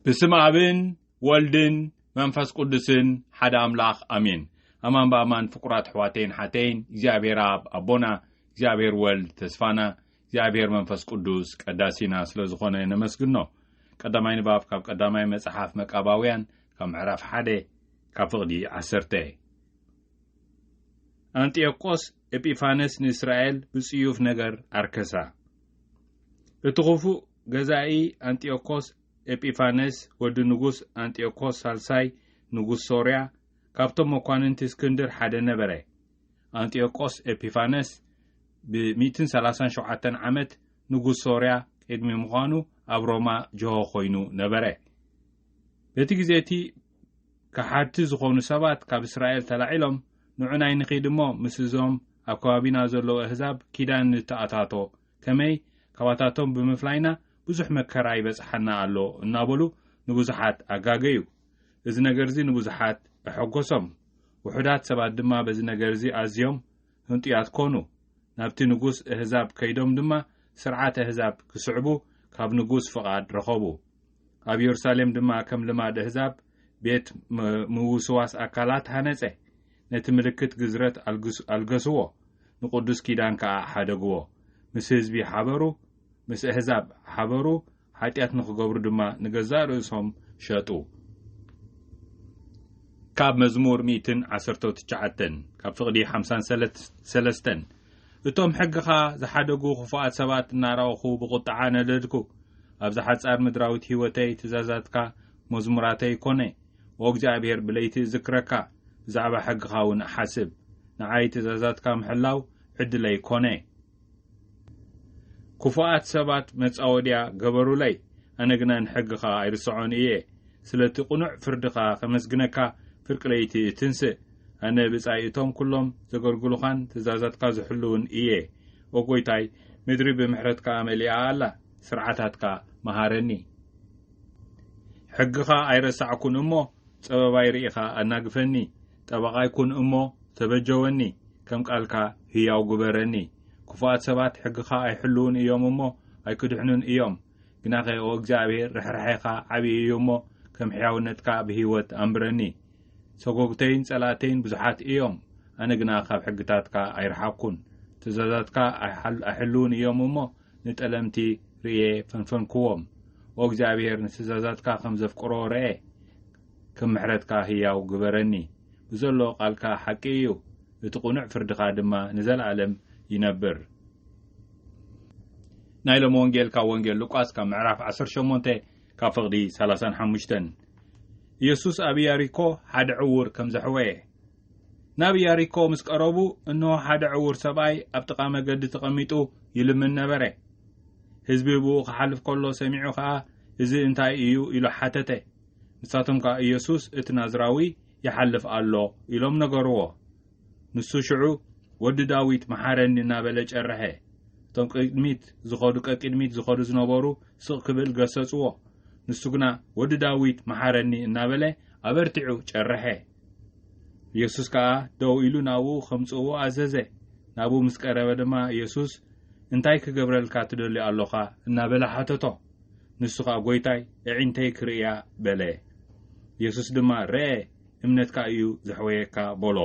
ብስም ኣብን ወልድን መንፈስ ቅዱስን ሓደ ኣምላኽ ኣሜን። ኣማን ብኣማን ፍቁራት ኣሕዋተይን ሓተይን እግዚኣብሔር ኣብ ኣቦና እግዚኣብሔር ወልድ ተስፋና እግዚኣብሔር መንፈስ ቅዱስ ቀዳሲና ስለ ዝኾነ ነመስግኖ። ቀዳማይ ንባብ ካብ ቀዳማይ መጽሓፍ መቃባውያን ካብ ምዕራፍ ሓደ ካብ ፍቕዲ ዓሰርተ ኣንጢዮቆስ ኤጲፋነስ ንእስራኤል ብጽዩፍ ነገር ኣርከሳ እቲ ኽፉእ ገዛኢ ኣንጢዮኮስ ኤጲፋነስ ወዲ ንጉስ ኣንጢዮኮስ ሳልሳይ ንጉስ ሶርያ ካብቶም መኳንንቲ እስክንድር ሓደ ነበረ። ኣንጢዮቆስ ኤጲፋነስ ብ ሚእትን ሰላሳን ሸውዓተን ዓመት ንጉስ ሶርያ ቅድሚ ምዃኑ ኣብ ሮማ ጅሆ ኮይኑ ነበረ። በቲ ግዜ እቲ ከሓድቲ ዝኾኑ ሰባት ካብ እስራኤል ተላዒሎም ንዑናይ ንኺድ እሞ ምስ እዞም ኣብ ከባቢና ዘለዉ ኣህዛብ ኪዳን ንተኣታቶ ከመይ ካባታቶም ብምፍላይና ብዙሕ መከራ ይበጽሓና ኣሎ እናበሉ ንብዙሓት ኣጋገዩ። እዚ ነገርዚ ንብዙሓት ኣሐጐሶም። ውሑዳት ሰባት ድማ በዚ ነገርዚ ኣዝዮም ህንጡያት ኮኑ። ናብቲ ንጉስ እህዛብ ከይዶም ድማ ስርዓት ኣህዛብ ክስዕቡ ካብ ንጉስ ፍቓድ ረኸቡ። ኣብ የሩሳሌም ድማ ከም ልማድ ኣህዛብ ቤት ምውስዋስ ኣካላት ሃነጸ። ነቲ ምልክት ግዝረት ኣልገስዎ፣ ንቕዱስ ኪዳን ከኣ ሓደግዎ፣ ምስ ህዝቢ ሓበሩ፣ ምስ ኣህዛብ ሓበሩ፣ ሓጢኣት ንኽገብሩ ድማ ንገዛእ ርእሶም ሸጡ። ካብ መዝሙር ሚእትን ዓሰርተው ትሽዓተን ካብ ፍቕዲ ሓምሳን ሰለስተን እቶም ሕግኻ ዝሓደጉ ክፉኣት ሰባት እናራኦኹ ብቝጥዓ ነደድኩ። ኣብዛ ሓጻር ምድራዊት ህይወተይ ትእዛዛትካ መዝሙራተይ ኮነ። ኦ እግዚኣብሄር ብለይቲ እዝክረካ ብዛዕባ ሕግኻ እውን እሓስብ ንዓይ ትእዛዛትካ ምሕላው ዕድለይ ኮነ ክፉኣት ሰባት መጻወድያ ገበሩለይ ኣነ ግና ንሕግኻ ኣይርስዖን እየ ስለቲ ቅኑዕ ፍርድኻ ከመስግነካ ፍርቂ ለይቲ እትንስእ ኣነ ብጻይ እቶም ኩሎም ዘገልግሉኻን ትእዛዛትካ ዝሕልውን እየ ኦ ጎይታይ ምድሪ ብምሕረትካ መሊኣ ኣላ ስርዓታትካ መሃረኒ ሕግኻ ኣይረሳዕኩን እሞ ጸበባይ ርኢኻ ኣናግፈኒ ጠበቓይ ኩን እሞ ተበጀወኒ ከም ቃልካ ህያው ግበረኒ ክፉኣት ሰባት ሕግኻ ኣይሕልዉን እዮም እሞ ኣይክድሕኑን እዮም ግናኸ ኦ እግዚኣብሔር ርሕራሔኻ ዓብዪ እዩ እሞ ከም ሕያውነትካ ብህይወት ኣንብረኒ ሰጎግተይን ጸላእተይን ብዙሓት እዮም ኣነ ግና ካብ ሕግታትካ ኣይረሓቅኩን ትእዛዛትካ ኣይሕልዉን እዮም እሞ ንጠለምቲ ርእየ ፈንፈንክዎም። ኦ እግዚኣብሄር ንትእዛዛትካ ከም ዘፍቅሮ ረኤ ከም ምሕረትካ ህያው ግበረኒ። ብዘሎ ቃልካ ሓቂ እዩ እቲ ቅኑዕ ፍርድኻ ድማ ንዘልኣለም ይነብር። ናይ ሎሚ ወንጌል ካብ ወንጌል ሉቃስ ካብ ምዕራፍ ዓሰርተ ሸሞንተ ካብ ፍቕዲ ሰላሳን ሓሙሽተን ኢየሱስ ኣብ ኢያሪኮ ሓደ ዕዉር ከም ዘሕወየ ናብ ኢያሪኮ ምስ ቀረቡ፣ እንሆ፣ ሓደ ዕዉር ሰብኣይ ኣብ ጥቓ መገዲ ተቐሚጡ ይልምን ነበረ። ህዝቢ ብእኡ ኺሓልፍ ከሎ ሰሚዑ ኸኣ፣ እዚ እንታይ እዩ? ኢሉ ሓተተ። ንሳቶም ከኣ፣ ኢየሱስ እቲ ናዝራዊ ይሓልፍ ኣሎ፣ ኢሎም ነገርዎ። ንሱ ሽዑ፣ ወዲ ዳዊት፣ መሓረኒ እናበለ ጨርሐ። እቶም ቅድሚት ዝኸዱ ቀቅድሚት ዝኸዱ ዝነበሩ ስቕ ክብል ገሰጽዎ። ንሱ ግና፣ ወዲ ዳዊት፣ መሓረኒ እናበለ ኣበርቲዑ ጨርሐ። የሱስ ከኣ ደው ኢሉ ናብኡ ከምጽእዎ ኣዘዘ። ናብኡ ምስ ቀረበ ድማ የሱስ እንታይ ክገብረልካ ትደሊ ኣሎኻ? እናበለ ሓተቶ። ንሱ ከኣ ጐይታይ ኣዒንተይ ክርእያ በለ። የሱስ ድማ ርኣ እምነትካ እዩ ዘሕወየካ በሎ።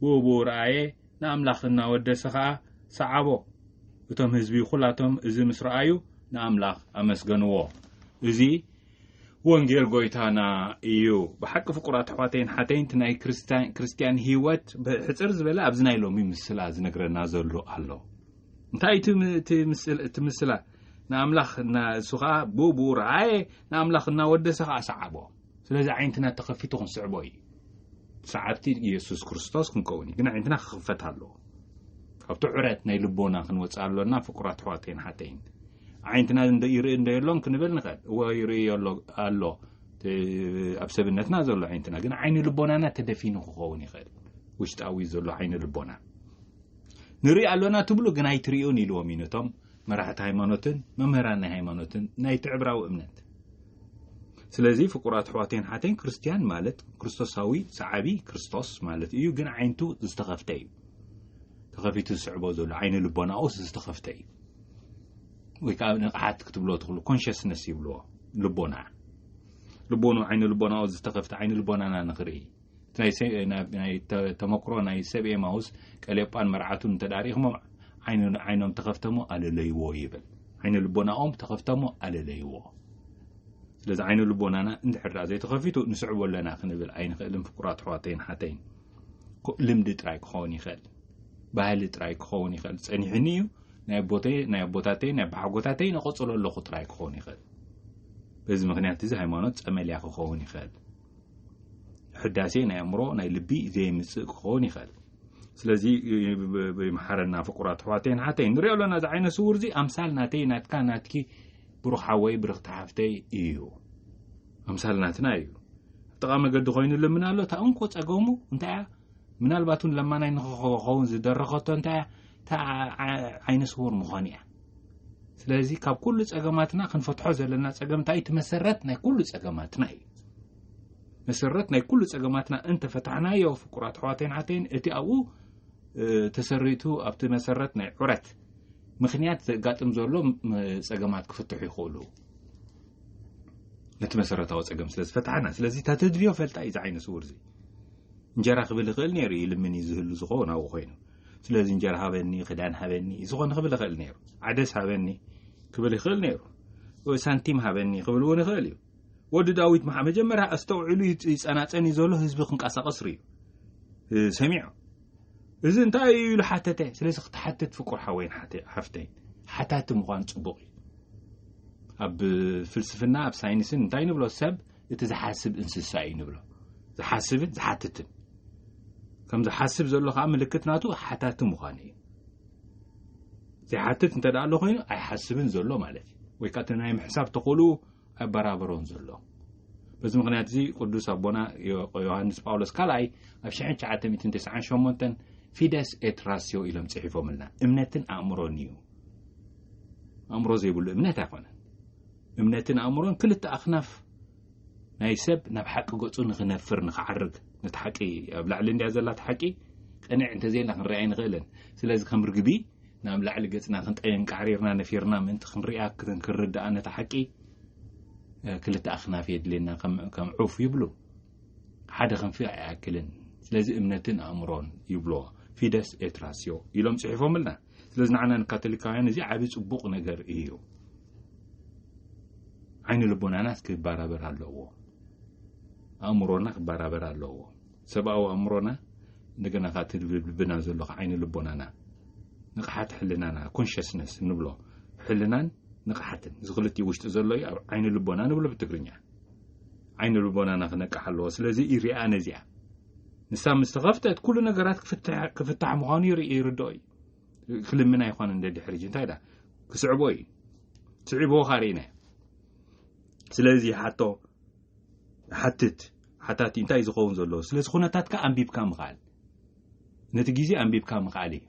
ብኡብኡ ረኣየ ንኣምላኽ እናወደሰ ከኣ ሰዓቦ። እቶም ህዝቢ ኹላቶም እዚ ምስ ረኣዩ ንኣምላኽ ኣመስገንዎ። እዚ ወንጌል ጎይታና እዩ ብሓቂ ፍቁራት ኣሕዋተይን ሓተይን እቲ ናይ ክርስትያን ህይወት ብሕፅር ዝበለ ኣብዚ ናይ ሎሚ ምስላ ዝነግረና ዘሎ ኣሎ እንታይ እቲ ምስላ ንኣምላኽ እሱ ከዓ ብብኡ ረኣየ ንኣምላኽ እናወደሰ ከዓ ሰዓቦ ስለዚ ዓይነትና ተኸፊቱ ክንስዕቦ እዩ ሰዓብቲ ኢየሱስ ክርስቶስ ክንከውን እዩ ግን ዓይነትና ክኽፈት ኣለዎ ካብቲ ዕረት ናይ ልቦና ክንወፅእ ኣሎና ፍቁራት ኣሕዋተይን ሓተይን ዓይንትና እንዶ ይርኢ እንዶ የሎን ክንብል ንኽእል እዎ ይርኢ ሎ ኣሎ ኣብ ሰብነትና ዘሎ ዓይነትና ግን ዓይኒ ልቦናና ተደፊኑ ክኸውን ይኽእል ውሽጣዊ ዘሎ ዓይኒ ልቦና ንርኢ ኣሎና ትብሉ ግን ኣይትሪኡን ኢልዎም እዩ ነቶም መራሕቲ ሃይማኖትን መምህራን ናይ ሃይማኖትን ናይቲ ዕብራዊ እምነት ስለዚ ፍቁራት ኣሕዋተይን ሓተይን ክርስትያን ማለት ክርስቶሳዊ ሰዓቢ ክርስቶስ ማለት እዩ ግን ዓይነቱ ዝተኸፍተ እዩ ተኸፊቱ ዝስዕቦ ዘሎ ዓይኒ ልቦናኡስ ዝተኸፍተ እዩ ወይ ከዓ ንቕሓት ክትብሎ ትኽእሉ ኮንሽስነስ ይብልዎ ልቦና ልቦኑ ዓይኒ ልቦናኡ ዝተኸፍተ ዓይኒ ልቦናና ንኽርኢ ናይ ተመክሮ ናይ ሰብ ኤማውስ ቀሌጳን መርዓቱን እንተዳሪእኹሞም ዓይኖም ተኸፍተሞ ኣለለይዎ ይብል ዓይኒ ልቦናኦም ተኸፍተሞ ኣለለይዎ ስለዚ ዓይኒ ልቦናና እንድሕር ዳኣ ዘይተኸፊቱ ንስዕቦ ኣለና ክንብል ኣይንኽእልን ፍቁራት ኣሕዋተይን ሓተይን ልምዲ ጥራይ ክኸውን ይኽእል ባህሊ ጥራይ ክኸውን ይኽእል ጸኒሑኒ እዩ ናይ ኣቦተይ ናይ ኣቦታተይ ናይ ኣቦሓጎታተይ ነቐጽሎ ኣለኹ ጥራይ ክኸውን ይኽእል በዚ ምክንያት እዚ ሃይማኖት ጸመልያ ክኸውን ይኽእል ሕዳሴ ናይ ኣእምሮ ናይ ልቢ ዘይምጽእ ክኸውን ይኽእል ስለዚ ይምሓረና ፍቁራት ኣሕዋተይ ንሓተይ ንሪኦ ኣለና እዚ ዓይነ ስውር እዚ ኣምሳል ናተይ ናትካ ናትኪ ብሩኽ ሓወይ ብርኽቲ ሓፍተይ እዩ ኣምሳል ናትና እዩ ጥቓ መገዲ ኮይኑ ልምና ኣሎ እታ እንኮ ጸገሙ እንታይ እያ ምናልባት እውን ለማናይ ንክኸውን ዝደረኸቶ እንታይ እያ እታ ዓይነ ስውር ምዃኑ እያ ስለዚ ካብ ኩሉ ጸገማትና ክንፈትሖ ዘለና ጸገም እንታይ እቲ መሰረት ናይ ኩሉ ጸገማትና እዩ መሰረት ናይ ኩሉ ጸገማትና እንተፈታሕናዮ ፍቁራት ኣሕዋተይን ሓተይን እቲ ኣብኡ ተሰሪቱ ኣብቲ መሰረት ናይ ዑረት ምክንያት ዘጋጥም ዘሎ ጸገማት ክፍትሑ ይኽእሉ ነቲ መሰረታዊ ጸገም ስለ ዝፈትሓና ስለዚ ተተድልዮ ፈልጣ እዩ ዝዓይነ ስውር እዚ እንጀራ ክብል ይኽእል ነይሩ ይልምን እዩ ዝህሉ ዝኸውን ኣብኡ ኮይኑ ስለዚ እንጀራ ሃበኒ ክዳን ሃበኒ ዝኾነ ክብል ይኽእል ነይሩ ዓደስ ሃበኒ ክብል ይኽእል ነይሩ ሳንቲም ሃበኒ ክብል እውን ይኽእል እዩ ወዲ ዳዊት መሓ መጀመርያ ኣስተውዕሉ ይፀናፀን እዩ ዘሎ ህዝቢ ክንቀሳቐስ ርዩ ሰሚዑ እዚ እንታይ እዩ ኢሉ ሓተተ ስለዚ ክትሓትት ፍቁር ሓወይን ሓፍተይ ሓታቲ ምዃን ፅቡቕ እዩ ኣብ ፍልስፍና ኣብ ሳይንስን እንታይ ንብሎ ሰብ እቲ ዝሓስብ እንስሳ እዩ ንብሎ ዝሓስብን ዝሓትትን ከም ዝሓስብ ዘሎ ከዓ ምልክት ናቱ ሓታቲ ምዃኑ እዩ ዘይሓትት እንተ ኣሎ ኮይኑ ኣይሓስብን ዘሎ ማለት እዩ ወይ ከዓ እቲ ናይ ምሕሳብ ተኽእሉ ኣይበራበሮን ዘሎ በዚ ምክንያት እዚ ቅዱስ ኣቦና ዮሃንስ ጳውሎስ ካልኣይ ኣብ 998 ፊደስ ኤትራስዮ ኢሎም ፅሒፎምልና እምነትን ኣእምሮን እዩ ኣእምሮ ዘይብሉ እምነት ኣይኮነን እምነትን ኣእምሮን ክልተ ኣኽናፍ ናይ ሰብ ናብ ሓቂ ገጹ ንኽነፍር ንኽዓርግ ነቲ ሓቂ ኣብ ላዕሊ እንድያ ዘላ እቲ ሓቂ ቅንዕ እንተዘይና ክንሪኣ ኣይንኽእልን ስለዚ ከም ርግቢ ናብ ላዕሊ ገጽና ክንጠየን ቃዕሪርና ነፊርና ምእንቲ ክንሪኣ ክንርድኣ ነቲ ሓቂ ክልተ ኣኽናፍ የድልየና ከም ዑፍ ይብሉ ሓደ ክንፊ ኣይኣክልን ስለዚ እምነትን ኣእምሮን ይብልዎ ፊደስ ኤትራስዮ ኢሎም ጽሒፎምልና ስለዚ ንዓና ንካቶሊካውያን እዚ ዓብ ጽቡቕ ነገር እዩ ዓይኒ ልቦናናስ ክባራበር ኣለዎ ኣእምሮና ክባራበር ኣለዎ ሰብኣዊ ኣእምሮና እንደገና ካ ትልብልብና ዘሎ ካ ዓይኒ ልቦናና ንቕሓት ሕልናና ኮንሽስነስ ንብሎ ሕልናን ንቕሓትን እዚ ክልቲኡ ውሽጢ ዘሎ እዩ ኣብ ዓይኒ ልቦና ንብሎ ብትግርኛ ዓይኒ ልቦናና ክነቅሕ ኣለዎ ስለዚ ይርኣ ነዚኣ ንሳ ምስ ተኸፍተት ኩሉ ነገራት ክፍታሕ ምዃኑ ይርድኦ እዩ ክልምና ይኾነ እንደ ድሕርጅ እንታይ ዳ ክስዕቦ እዩ ስዒቦ ካሪኢና ስለዚ ሓቶ ሓትት ሓታቲ እንታይ እዩ ዝኸውን ዘለዎ ስለዚ ኩነታትካ ኣንቢብካ ምኽኣል ነቲ ግዜ ኣንቢብካ ምኽኣል እዩ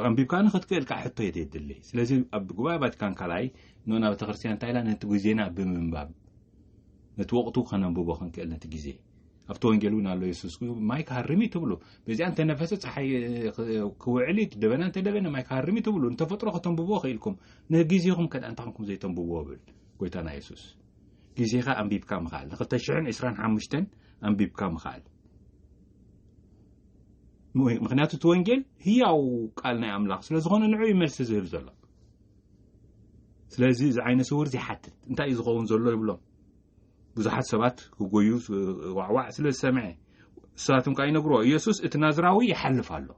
ኣንቢብካ ንክትክእል ከዓ ሕቶ የት የድሊ ስለዚ ኣብ ጉባኤ ቫቲካን ካልኣይ ንና ቤተክርስትያን እንታይ ኢላ ነቲ ግዜና ብምንባብ ነቲ ወቅቱ ከነንብቦ ክንክእል ነቲ ግዜ ኣብቲ ወንጌል እውን ኣሎ የሱስ ማይ ክሃርም እዩ ትብሉ በዚኣ እንተነፈሰ ፀሓይ ክውዕል እዩ ደበና እንተደበነ ማይ ክሃርም እዩ ትብሉ ንተፈጥሮ ከተንብብዎ ክኢልኩም ንግዜኹም ከዳ እንታይ ኮንኩም ዘይተንብብዎ ብል ጎይታና የሱስ ግዜኻ ኣንቢብካ ምኽኣል ንክልተ ሽሕን ዕስራን ሓሙሽተን ኣንቢብካ ምኽኣል ምክንያቱ እቲ ወንጌል ህያው ቃል ናይ ኣምላኽ ስለ ዝኾነ ንዑ እዩ መልሲ ዝህብ ዘሎ ስለዚ እዚ ዓይነ ስውር ዘይሓትት እንታይ እዩ ዝኸውን ዘሎ ይብሎም ብዙሓት ሰባት ክጎዩ ዋዕዋዕ ስለ ዝሰምዐ እሳትም ከዓ ይነግርዎ ኢየሱስ እቲ ናዝራዊ ይሓልፍ ኣሎ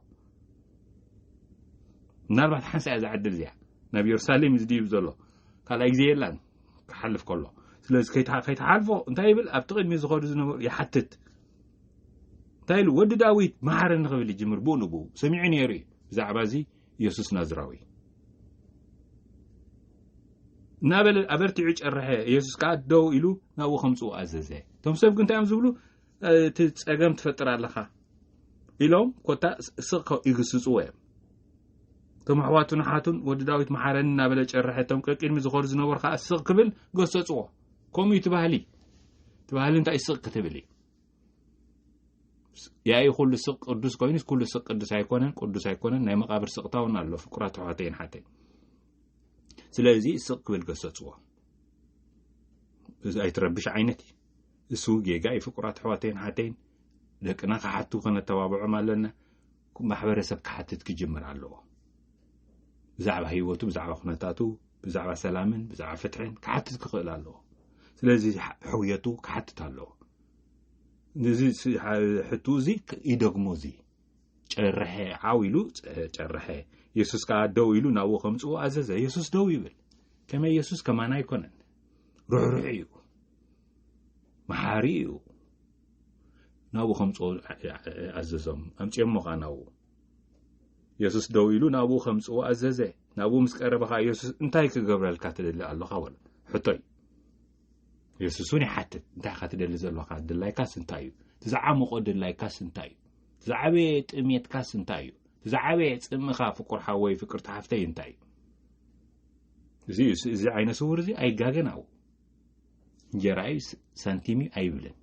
ምናልባት ሓንሳ እያ ዝዓድል እዚያ ናብ የሩሳሌም እዩ ዝድይብ ዘሎ ካልኣይ ግዜ የላን ክሓልፍ ከሎ ስለዚ ከይተሓልፎ እንታይ ይብል ኣብቲ ቅድሚ ዝኸዱ ዝነበሩ ይሓትት እንታይ ኢሉ ወዲ ዳዊት መሃረኒ ክብል ይጅምር ብኡ ንብኡ ሰሚዑ ነይሩ እዩ ብዛዕባ እዚ የሱስ ናዝራዊ እናበለ ኣበርቲዑ ጨርሐ የሱስ ከዓ ደው ኢሉ ናብኡ ከምፅኡ ኣዘዘ እቶም ሰብ ግን እንታይ እዮም ዝብሉ እቲ ፀገም ትፈጥር ኣለኻ ኢሎም ኮታ ስቕ ይግስፅዎ እዮም እቶም ኣሕዋቱን ሓቱን ወዲ ዳዊት መሓረኒ እናበለ ጨርሐ እቶም ቀቂድሚ ዝኸሩ ዝነበሩ ከዓ ስቕ ክብል ገሰፅዎ ከምኡ እዩ ትባህሊ ትባህሊ እንታይ ስቕ ክትብል እዩ ያኢ ኩሉ ስቅ ቅዱስ ኮይኑ ኩሉ ስቅ ቅዱስ ኣይኮነን ቅዱስ ኣይኮነን ናይ መቃብር ስቅታ እውን ኣሎ ፍቁራት ኣሕዋተይን ሓተይ ስለዚ ስቅ ክብል ገሰፅዎ እዚ ኣይትረብሽ ዓይነት እዩ እሱ ጌጋ እዩ ፍቁራት ኣሕዋተይን ሓተይን ደቅና ክሓቱ ከነተባብዖም ኣለና ማሕበረሰብ ክሓትት ክጅምር ኣለዎ ብዛዕባ ህይወቱ ብዛዕባ ኩነታቱ ብዛዕባ ሰላምን ብዛዕባ ፍትሕን ክሓትት ክኽእል ኣለዎ ስለዚ ሕውየቱ ክሓትት ኣለዎ ንዚ ሕቱ እዚ ይደግሞ እዚ ጨርሐ ዓው ኢሉ ጨርሐ የሱስ ከዓ ደው ኢሉ ናብኡ ከምፅኡ ኣዘዘ የሱስ ደው ይብል ከመይ የሱስ ከማና ኣይኮነን ርሕሩሕ እዩ መሓሪ እዩ ናብኡ ከምፅኡ ኣዘዞም ኣምፅኦሞ ከዓ ናብኡ የሱስ ደው ኢሉ ናብኡ ከምፅኡ ኣዘዘ ናብኡ ምስ ቀረበ ከዓ የሱስ እንታይ ክገብረልካ ትደሊ ኣለኻ በሎ ሕቶይ የሱስ እውን ይሓትት እንታይ ኢኻ ትደሊ ዘለካ ድላይካስ እንታይ እዩ እቲ ዝዓመቆ ድላይካስ እንታይ እዩ እቲ ዝዓበየ ጥሜትካስ እንታይ እዩ እቲ ዝዓበየ ፅምእኻ ፍቁር ሓወይ ፍቅርቲ ሓፍተይ እንታይ እዩ እዚ እዚ ዓይነ ስውር እዚ ኣይጋገን ኣብኡ እንጀራ እዩ ሳንቲም እዩ ኣይብልን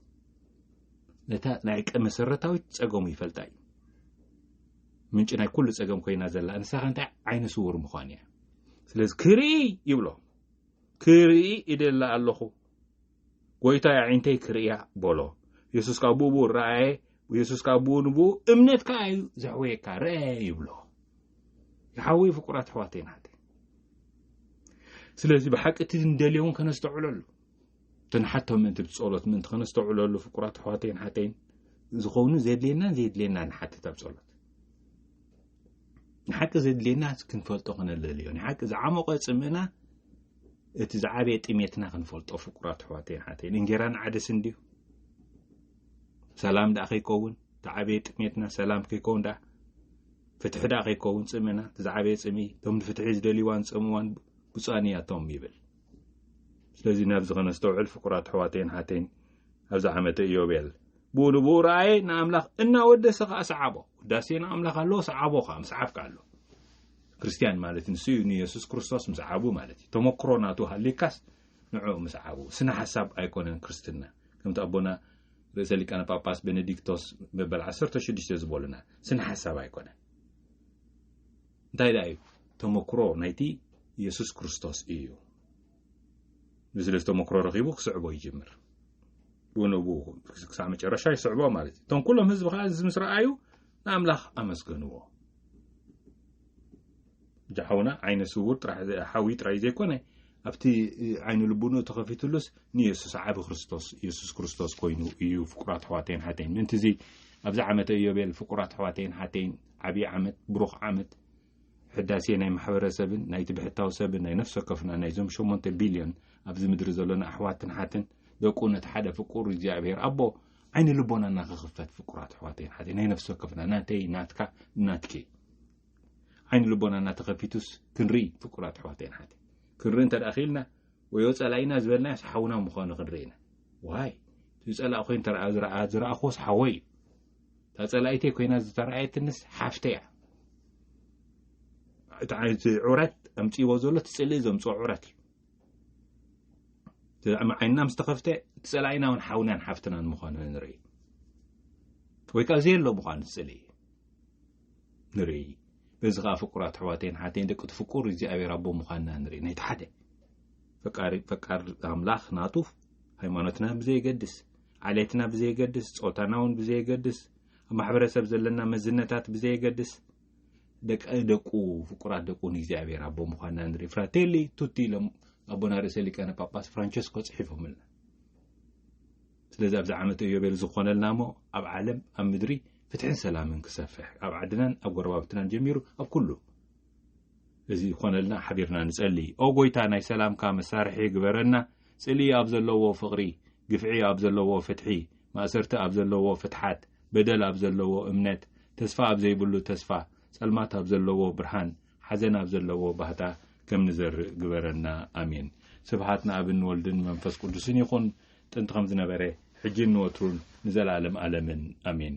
ነታ ናይ መሰረታዊት ፀገሙ ይፈልጣ እዩ ምንጭ ናይ ኩሉ ፀገም ኮይና ዘላ ንሳኻ እንታይ ዓይነ ስውር ምዃን እያ ስለዚ ክርኢ ይብሎ ክርኢ እደሊ ኣሎኹ፣ ጐይታይ ኣዒንተይ ክርእያ በሎ። የሱስ ከኣ ብኡብኡ ረኣየ፣ የሱስ ከኣ ብኡ ንብኡ እምነትካ እዩ ዘሕወየካ፣ ርኣ ይብሎ። ይሓወይ ፍቁራት ኣሕዋተይን ኣሓተይን፣ ስለዚ ብሓቂ እቲ ንደልዮ እውን ከነስተውዕለሉ፣ እቲ ንሓቶ ምእንቲ ብጸሎት ምእንቲ ከነስተውዕለሉ ፍቁራት ኣሕዋተይን ኣሓተይን፣ ዝኸውን ዘድልየናን ዘየድልየናን ንሓትት ኣብ ጸሎት። ንሓቂ ዘድልየና ክንፈልጦ ክነለልዮ ንሓቂ ዝዓሞቐ ጽምእና እቲ ዝዓበየ ጥሜትና ክንፈልጦ ፍቁራት ኣሕዋተይን ሓተይን እንጌራን ዓደስን ድዩ ሰላም ደኣ ከይከውን ዝዓበየ ጥሜትና ሰላም ከይከውን ደኣ ፍትሒ ደኣ ከይከውን ጽምእና እቲ ዝዓበየ ጽምኢ እቶም ንፍትሒ ዝደልይዋን ዝጸምዋን ብፁኣን እያቶም ይብል ስለዚ ናብዚ ከነስተውዕል ፍቁራት ኣሕዋተይን ኣሓተይን ኣብዚ ዓመተ ኢዮቤል ብኡ ንብኡ ረኣየ ንኣምላኽ እናወደሰ ከዓ ሰዓቦ ውዳሴ ንኣምላኽ ኣለዎ ሰዓቦ ከዓ ምስዓብካ ኣሎ ክርስትያን ማለት ንሱ እዩ ንየሱስ ክርስቶስ ምስዓቡ ማለት እዩ ተመክሮ ናቱ ሃሊካስ ንዕኡ ምስዓቡ ስነ ሓሳብ ኣይኮነን ክርስትና ከምቲ ኣቦና ርእሰ ሊቃነ ጳጳስ ቤኔዲክቶስ መበል 16 ዝበሉና ስነ ሓሳብ ኣይኮነን እንታይ ደኣ እዩ ተመክሮ ናይቲ የሱስ ክርስቶስ እዩ ምስለ ዝተመክሮ ረኺቡ ክስዕቦ ይጅምር ብኡንብኡ ክሳዕ መጨረሻ ይስዕቦ ማለት እዩ እቶም ኩሎም ህዝቢ ከዓ እዚ ምስ ረኣዩ ንኣምላኽ ኣመስገንዎ ጃሓውና ዓይነ ስውር ሓዊ ጥራይ ዘይኮነ ኣብቲ ዓይኒ ልቡንኡ ተኸፊትሉስ ንየሱስ ዓብ ክርስቶስ የሱስ ክርስቶስ ኮይኑ እዩ ፍቁራት ኣሕዋተይን ሓተይን ምእንቲ እዚ ኣብዚ ዓመተ እዮቤል ፍቁራት ኣሕዋተይን ሓተይን ዓብዪ ዓመት ብሩኽ ዓመት ሕዳሴ ናይ ማሕበረሰብን ናይቲ ብሕታዊ ሰብን ናይ ነፍሲ ወከፍና ናይዞም ሸሞንተ ቢልዮን ኣብዚ ምድሪ ዘሎና ኣሕዋትን ሓትን ደቁ ነቲ ሓደ ፍቁር እግዚኣብሄር ኣቦ ዓይኒ ልቦና እናኸኽፈት ፍቁራት ኣሕዋተይን ሓተይ ናይ ነፍሲ ወከፍና ናተይ ናትካ ናትኪ ዓይኒ ልቦና እናተኸፊቱስ ክንርኢ ፍቁራት ኣሕዋተይን ሓተይ ክንርኢ እንተ ደኣ ክኢልና ወይ ወፀላኢና ዝበልናዮ ሓውና ምዃኑ ክንርኢ ኢና ዋይ እቲ ፀላእ ኮይኑ ተረኣ ዝረኣ ዝረኣኽዎስ ሓወይ እዩ እታ ጸላኢተይ ኮይና ዝተረኣየትንስ ሓፍተይ እያ እቲ ዓይነት ዑረት ኣምፅዎ ዘሎ እቲ ፅልኢ ዘምፅኦ ዑረት እዩ ዓይንና ምስ ተኸፍተ ፀላኢና እውን ሓውናን ሓፍትናን ምዃኑ ንርኢ ወይ ከዓ ዘየሎ ምዃኑ ዝፅሊ ንርኢ በዚ ከዓ ፍቁራት ኣሕዋተይን ሓተይን ደቂ ትፍቁር እግዚኣብሔር ኣቦ ምዃንና ንርኢ ናይቲ ሓደ ፈቃር ኣምላኽ ናቱ ሃይማኖትና ብዘየገድስ ዓሌትና ብዘየገድስ፣ ጾታና እውን ብዘየገድስ፣ ኣብ ማሕበረሰብ ዘለና መዝነታት ብዘየገድስ፣ ደቂ ደቁ ፍቁራት ደቁ ንእግዚኣብሔር ኣቦ ምዃንና ንርኢ ፍራቴሊ ቱቲ ኢሎም ኣቦና ርእሰ ሊቃነ ጳጳስ ፍራንቸስኮ ጽሒፎምልና ስለዚ ኣብዚ ዓመት እዮቤል ዝኾነልና እሞ ኣብ ዓለም ኣብ ምድሪ ፍትሕን ሰላምን ክሰፍሕ ኣብ ዓድናን ኣብ ጎረባብትናን ጀሚሩ ኣብ ኩሉ እዚ ይኾነልና ሓቢርና ንጸሊ ኦ ጎይታ ናይ ሰላምካ መሳርሒ ግበረና ጽልኢ ኣብ ዘለዎ ፍቕሪ፣ ግፍዒ ኣብ ዘለዎ ፍትሒ፣ ማእሰርቲ ኣብ ዘለዎ ፍትሓት፣ በደል ኣብ ዘለዎ እምነት፣ ተስፋ ኣብ ዘይብሉ ተስፋ፣ ጸልማት ኣብ ዘለዎ ብርሃን፣ ሓዘን ኣብ ዘለዎ ባህታ ከም ንዘርእ ግበረና። ኣሜን። ስብሃት ንኣብን ንወልድን መንፈስ ቅዱስን ይኹን ጥንቲ ከም ዝነበረ ሕጂን ንወትሩን ንዘለኣለም ኣለምን ኣሜን።